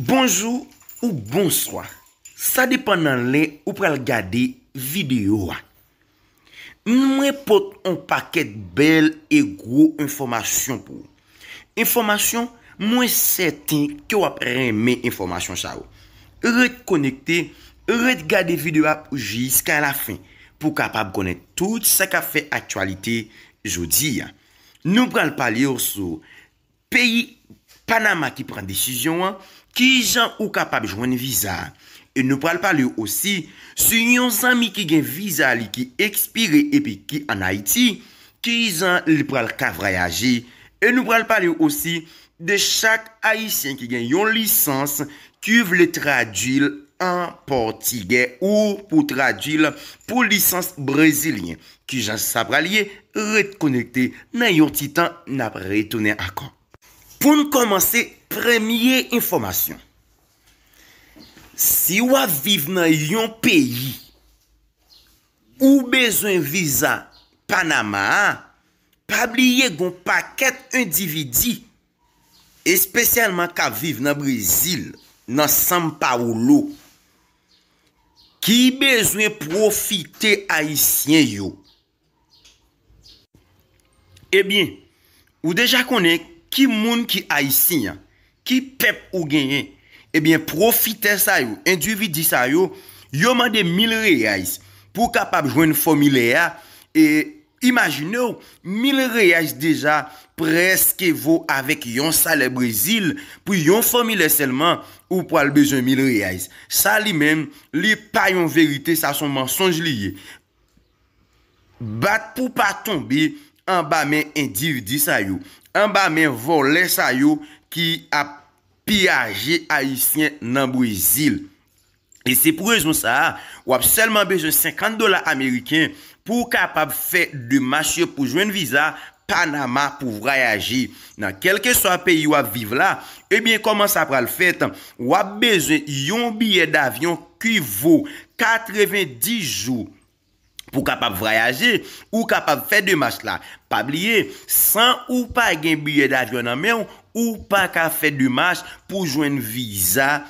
Bonjou ou bonswa, sa depan nan lè ou pral gade videyo a. Mwen pot on pakèt bèl e gwo enfòmasyon pou ou. Enfòmasyon mwen sèten ke w ap renmen enfòmasyon sa yo. Ret konekte, ret gade videyo a jiska la fen pou w kapab konnen tout sa k ap fè aktyalite jodi a. Nou pral pale w sou. Peyi Panama ki pran desizyon an, kijan ou kapab jwenn viza. E nou pral palew osi su yon zanmi ki gen viza li ki ekspire epi ki an Ayiti, kizan li pral ka vrayaje. E nou pral palew osi de chak ayisyen ki gen yon lisans kiu vle tradwil an pòtigè ou pou tradwil pou lisans brezilyen. Kijan sa pral ye ret konekte nan yon ti tan nap retounen akò. Poun kòmanse premye enfòmasyon si wap viv nan yon peyi ou bezwen viza panama a pa bliye gon pakèt endividi espesyalman k ap viv nan Brezil, nan São Paulo, ki bezwen pwofite Ayisyen yo. Ebyen, ou deja konnen ki moun ki Ayisyen an, ki pèp ou genyen. Ebyen, pwofitè sa yo, endividi sa yo, yo mande 1000 reais pou kapab jwenn fòmilè a, Imajinew mil reais deja preske vo avek yon salè brezil pou yon fòmilè sèlman ou pwal bezwen mil reais sa li menm li pa yon verite sa son mansonj li ye bat pou pa tonbe anba men endivdi sa yo anba men vòlè sa yo ki ap piyaje ayisyen nan brezil. E se pou rezon sa a, w ap sèlman bezwen 50 dola ameriken pou w kapab fè demach yo pou jwenn viza Panama pou vwayaje nan kèlkeswa peyi w ap viv la. Ebyen kòman sa pral fèt, w ap bezwen yon biyè davyon ki vo 90 jou pou kapab vwayaje, ou kapab fè demach la. Pa bliye, san ou pa gen biyè davyon nan men w, ou pa ka fè demach pou jwenn viza.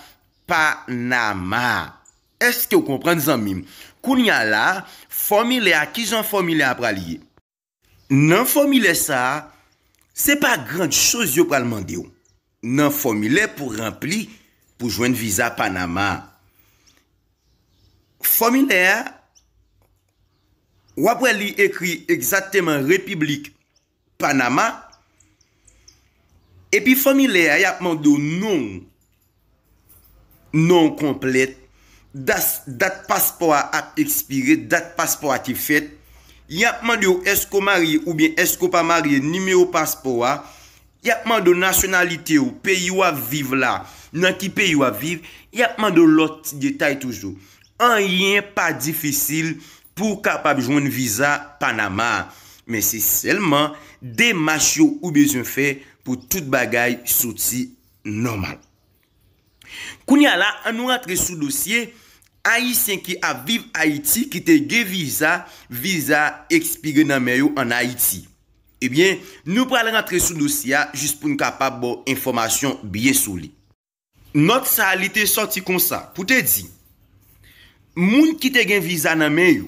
Panama. Èske w konprann zanmi m? Kounye a la, fòmilè a, ki jan fòmilè a pral ye? Nan fòmilè sa a, se pa grand choz yo pral mande w. Nan fòmilè pou ranpli pou jwenn viza Panama a, fòmilè a, w ap wè li ekri egzakteman Repiblik Panama epi fanmi lè a yap mande w non w, non w konplèt, dat paspò a ap ekspire, dat paspò a te fèt, yap mande w èske w marye oubyen èske w pa marye, nimewo paspò a, yap mande w nasyonalite w, peyi wap viv la, nan ki peyi wap viv, yap mande w lòt ti detay toujou. Anyen pa difisil Pou w kapab jwenn viza Panama a, men se sèlman demach yo ou bezwen fè pou tout bagay soti nòmal. Kounye a la, an nou rantre sou dosye Ayisyen ki ap viv Ayiti ki te gen viza, viza ekspire nan men yo an Ayiti. Ebyen, nou pral rantre sou dosye a jis pou n kapab ba w enfòmasyon byen solid. Nòt sa a li te sòti konsa pou te di, moun ki te gen viza nan men yo,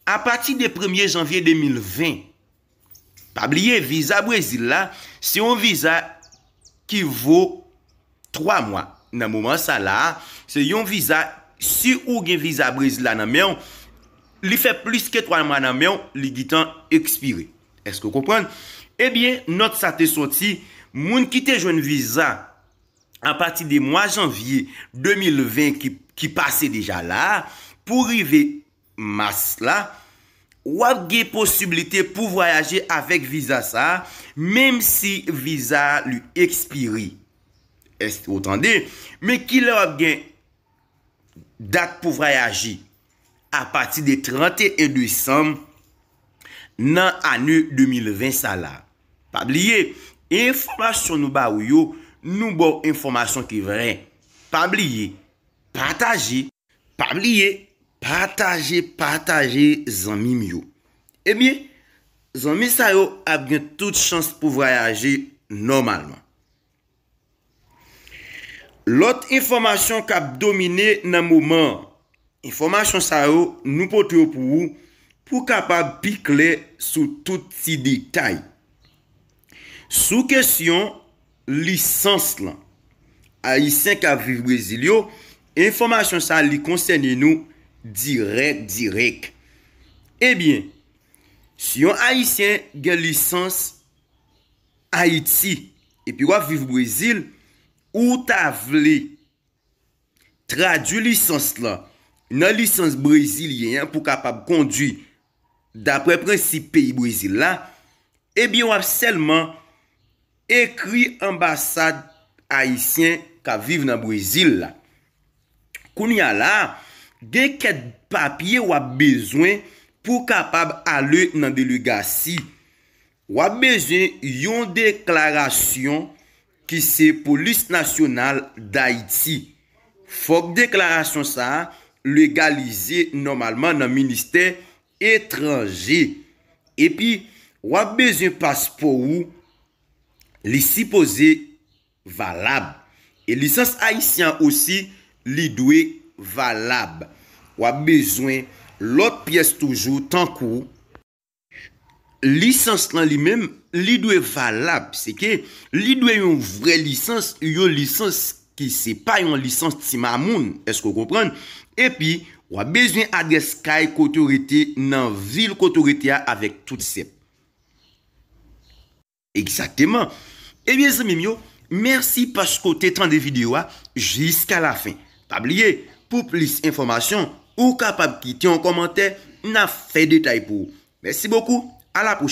apati de premye janvye 2020, pa bliye viza Brezil la se yon viza ki vo 3 mwa, nan moman sa la a, se yon viza si ou gen viza Brezil la nan men w, li fè plis ke 3 mwa nan men w, li gitan ekspire. Èske w konprann? Ebyen, nòt sa te sòti, moun ki te jwenn viza a pati de mwa janvye 2020 ki pase deja la, pou rive mas la, w ap gen posiblite pou vwayaje avèk viza sa a, menm si viza a li ekspire. Èske ou tande? Men kilè w ap gen Dat pou vwayaje apati de 31 desanm nan ane 2020 sa la. Pa bliye, enfòmasyon nou ba ou yo, nou ba ou enfòmasyon ki vrè. Pa bliye, pataje. Pa bliye, pataje, pataje zanmi m yo. Ebyen, zanmi sa yo ap gen tout chans pou vwayaje nòmalman. Lòt enfòmasyon k ap domine nan moman an. Enfòmasyon sa yo nou pote yo pou ou pou w kapab pi klè sou tout ti detay. Sou kesyon lisans lan. Ayisyen k ap viv Brezil yo, enfòmasyon sa li konsène nou dirèk dirèk. Ebyen, si yon ayisyen gen lisans. Ayiti epi wap viv Brezil ou ta vle tradwi lisans lan nan lisans brezilyen an pou kapab kondwi dapre prensip peyi Brezil la, ebyen wap sèlman ekri anbasad ayisyen kap viv nan Brezil la. Kounye a la, gen kèk papye wap bezwen pou kapab ale nan delegasi W ap bezwen yon deklarasyon ki se Polis Nasyonal Dayiti. Fòk deklarasyon sa a legalize nòmalman nan Ministè Etranje. Epi, w ap bezwen paspò ou, li sipoze valab. E lisans ayisyen an osi, li dwe valab. W ap bezwen lòt pyès toujou tankou. Lisans lan li menm, li dwe valab. Se ke li dwe yon vre lisans, yon lisans ki se pa yon lisans ti mamoun. Eske ou konprann? E pi, w ap bezwen adrès kay kote ou rete nan vil kote ou rete a avèk tout sèp. Egzakteman. Ebyen zanmi m yo, mèsi paske w te tande videyo a jiska lafen. Pa bliye, pou plis enfòmasyon, ou kapab kite yon kòmantè, n ap fè detay pou ou. Mèsi bokou, a la pwochèn!